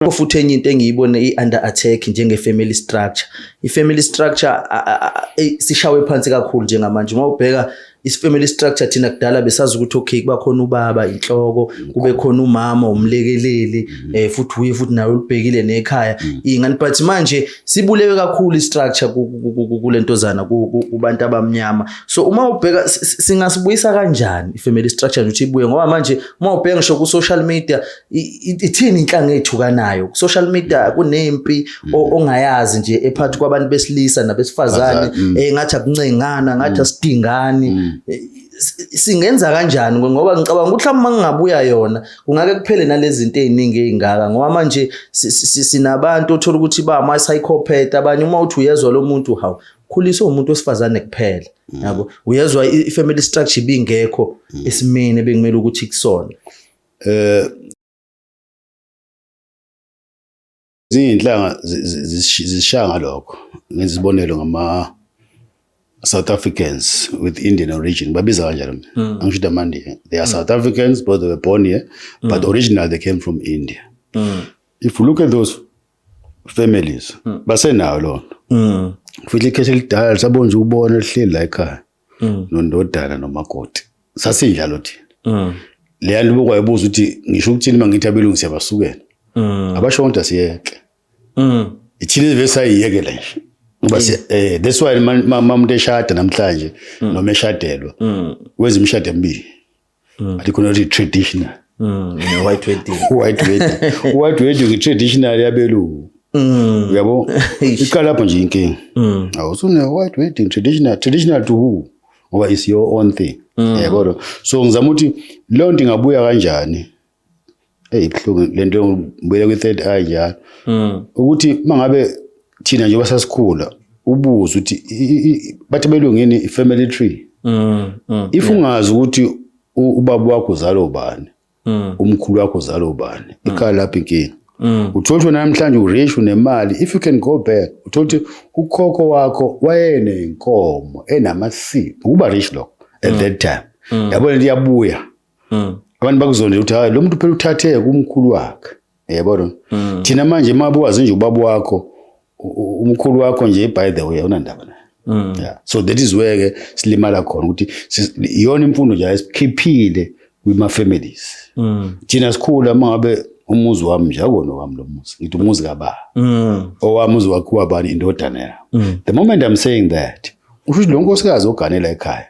Yebo futhi enye into engiyibone i-under attack njenge-family structure. I-family structure sishawe phansi kakhulu njengamanje. Uma ubheka i-family structure thina kudala besazi ukuthi okay kuba khona ubaba inhloko, kube khona umama umlekeleli, mm. eh futhi uye futhi nawe ulibhekile nekhaya. Mm. Ingani but manje sibulewe kakhulu i-structure kulentozana kubantu abamnyama. So uma ubheka singasibuyisa kanjani i-family structure ukuthi ibuye ngoba manje uma ubheka ngisho ku-social media ithini inhlanga eyithukanayo social media kunempi mm. ongayazi nje ephathi kwabantu besilisa nabesifazane mm. eh ngathi akuncengana ngathi mm. asidingani eh, singenza kanjani ngoba ngicabanga ukuthi uma ngingabuya yona kungake kuphele nalezi zinto eziningi ezingaka ngoba manje sinabantu othola ukuthi ba ama psychopath abanye uma uthi uyezwa lo muntu hawu khulisa umuntu wesifazane kuphela yabo uyezwa i family structure ibingekho esimene bengimele ukuthi kusona Eh Izinhlanga zishaya ngalokho ngenza isibonelo ngama South Africans with Indian origin babiza kanjalo mina hmm. angisho ukuthi amaNdiya they are hmm. South Africans but they were born here hmm. but originally they came from India if you look at those families basenayo lona futhi ikheshi elidala lisabona nje ukubona lihleli la ekhaya mm. nondodana nomakoti sasinjalo thina mm. leya nto bokwayibuza ukuthi ngisho ukuthini uma ngithi abelungu siyabasukela mm. abasho kodwa siyeke mm. ithina izive sayiyeke le nje ngoba mm. eh that's why mamuntu eshada namhlanje mm. noma eshadelwa mm. wenza imishado emibili mm. ati khona kuti traditional mm, white wedding white wedding white wedding ngi traditional yabelungu mm. uyabo iqala lapho nje inkinga mm. awusune white wedding traditional traditional to who ngoba is your own thing mm. yabo so ngizama ukuthi lonto ingabuya kanjani eyi kuhlungu le nto ngibuyele kwi-third eye njalo hmm. ukuthi uma ngabe thina njengoba sasikhula ubuze ukuthi bathi belungini i-family tree hmm, hmm, if ungazi ukuthi ubaba wakho uzalo ubani umkhulu wakho uzalo ubani ikhaya lapho inkinga Mm. uthole ukuthi namhlanje urich unemali if you can go back uthole ukuthi ukhokho wakho wayenenkomo enamasipho ukuba rich lokho at mm. that time mm. yabona into iyabuya mm. abantu bakuzonde ukuthi hayi lo muntu phela uthathe kumkhulu wakhe yabona mm. thina manje uma buwazi nje ubaba wakho umkhulu wakho nje by the way unandaba naye mm. yeah. so that is where ke silimala khona ukuthi iyona imfundo nje ayisikhiphile kwima families mm. thina sikhula mangabe umuzi wami nje akona wami lo muzi ngithi umuzi kababa mm. owami uzi wakhiwa bani indodana yami mm. the moment i'm saying that usho ukuthi lo nkosikazi oganela ekhaya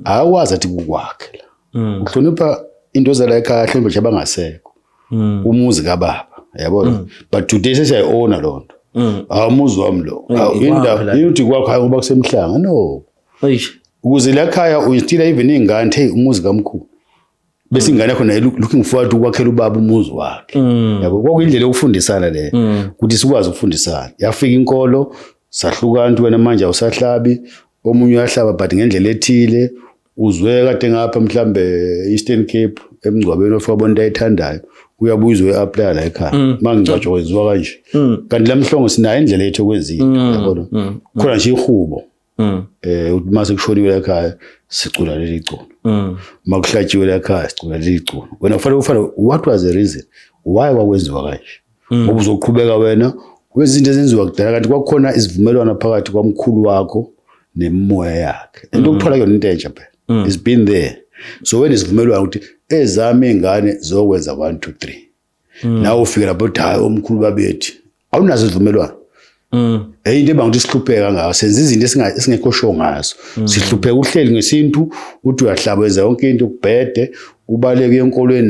akwazi athi kukwakhe la mm. uhlonipha into zala ekhaya hlonipha nje abangasekho mm. umuzi kababa yabo mm. but today sesiya owner lonto mm. awumuzi wami lo indawo yithi kwakho hayi ngoba kusemhlanga no ukuze la khaya uyitila even ingane hey umuzi kamkhulu bese ingane yakho naye looking forward ukwakhela ubaba umuzi wakhe mm. yabo kwakuyindlela yokufundisana le mm. ukuthi sikwazi ukufundisana yafika inkolo sahlukana nto wena manje awusahlabi omunye uyahlaba but ngendlela ethile uzwe kade ngapha mhlambe Eastern Cape emngcwabeni ofika bonto ayithandayo uyabuya uzoyi-aplaya la ekhaya mm. uma ngingcwatshwa kwenziwa kanje kanti la mhlongo sinayo indlela yethu yokwenzile yabona khona nje ihubo mm. eh uthi mase kushoniwe la ekhaya sicula leli culo mm. uma kuhlatshiwe la ekhaya sicula leli culo wena kufanele ufane what was the reason why wakwenziwa kanje mm. ngoba uzoqhubeka wena wezinto ezenziwa kudala kanti kwakukhona isivumelwano phakathi kwamkhulu wakho nemimoya yakhe into mm. okuthola yona into entsha phela mm. it's been there so wena isivumelwano ukuthi ezami ingane zokwenza 1 2 3 mm. nawe ufike lapho uthi hayi omkhulu babethi awunazo izivumelwano Mm. Hey into ebanga ukuthi sihlupheka ngayo senza izinto esingekho sho ngazo. Mm. Sihlupheka uhleli ngesintu uthi uyahlabeza yonke into kubhede ubaleke enkolweni